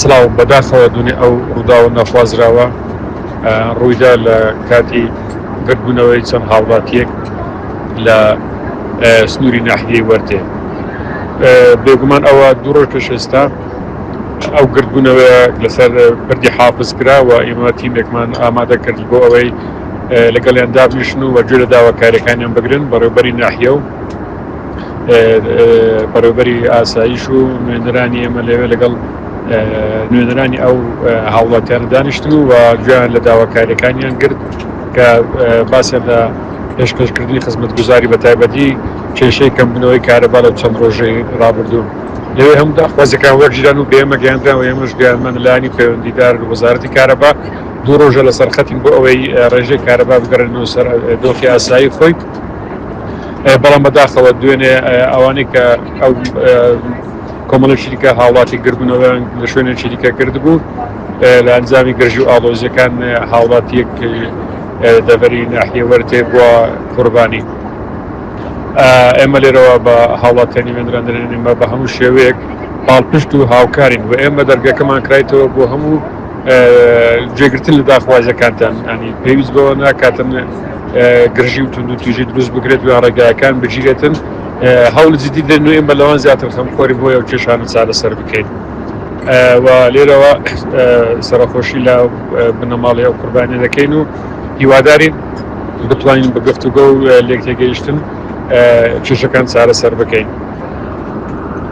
سڵاو، بەداخەوە دوێنێ ئەو ڕووداوە نەخوازراوە ڕوویدا لە کاتی گردبوونەوەی چەند هاوڵاتییەک لە سنووری ناحیەی وەرتێ. بێگومان ئەوە دوو ڕۆژ پێش ئێستا ئەو گردبوونەوەیە لەسەر پردی حافز کرا و ئێمە تیمێکمان ئامادە کرد بۆ ئەوەی لەگەڵیان دابنیشن و گوێ لە داواکارییەکانیان بگرن، بەڕێوەبەری ناحیە و بەڕێوبەری ئاسایش و نوێنەرانی ئێمە لەوێ لەگەڵ نوێنەرانی ئەو هاوڵاتیان دانیشتن و گویان لە داواکاریەکانیان گرت کە باسیان لە پێشکەشکردنی خزمەت گوزاری بە تایبەتی کێشەی کەمبنەوەی کارەبا لە چەند ڕۆژەی رابردوو لەوێ هەم داخوازەکان وەرگیران و بێمە گەیاندرا و ئێمەش گویانمان لانی پەیوەندیدار وەزارەتی کارەبا دوو ڕۆژە لەسەر خەتین بۆ ئەوەی ڕێژەی کارەبا بگەڕێنەوە سەر دۆخی ئاسایی خۆی بەڵام بەداخەوە دوێنێ ئەوانەی کە ئەو کۆمەڵی شریکە هاوڵاتی گردبوونەوەیان لە شوێنێک شریکە کرد بوو لە ئەنجامی گرژی و ئاڵۆزیەکان هاوڵاتیەک دەبەری ناحیەوەەر تێ بووە قوربانی ئێمە لێرەوە بە هاوڵاتیانی وێنراندرێنمە بە هەموو شێوەیەک پاڵپشت و هاوکارین و ئێمە دەرگەکەمان کرایتەوە بۆ هەموو جێگرتن لە داخوازەکانتان ئەنی پێویست بەوە ناکاتن گرژی و توندوتیژی دروست بکرێت و یا ڕێگایەکان بگیرێتن هەوڵ جدی دەن و ئێمە لەوان زیاتر خەمخۆری بۆیە و کێشانە چارەسەر بکەین و لێرەوە سەرخۆشی لە بنەماڵی ئەو قوربانی دەکەین و هیوادارین بتوانین بە گفتوگە و لێک تێگەیشتن کێشەکان چارەسەر بکەین.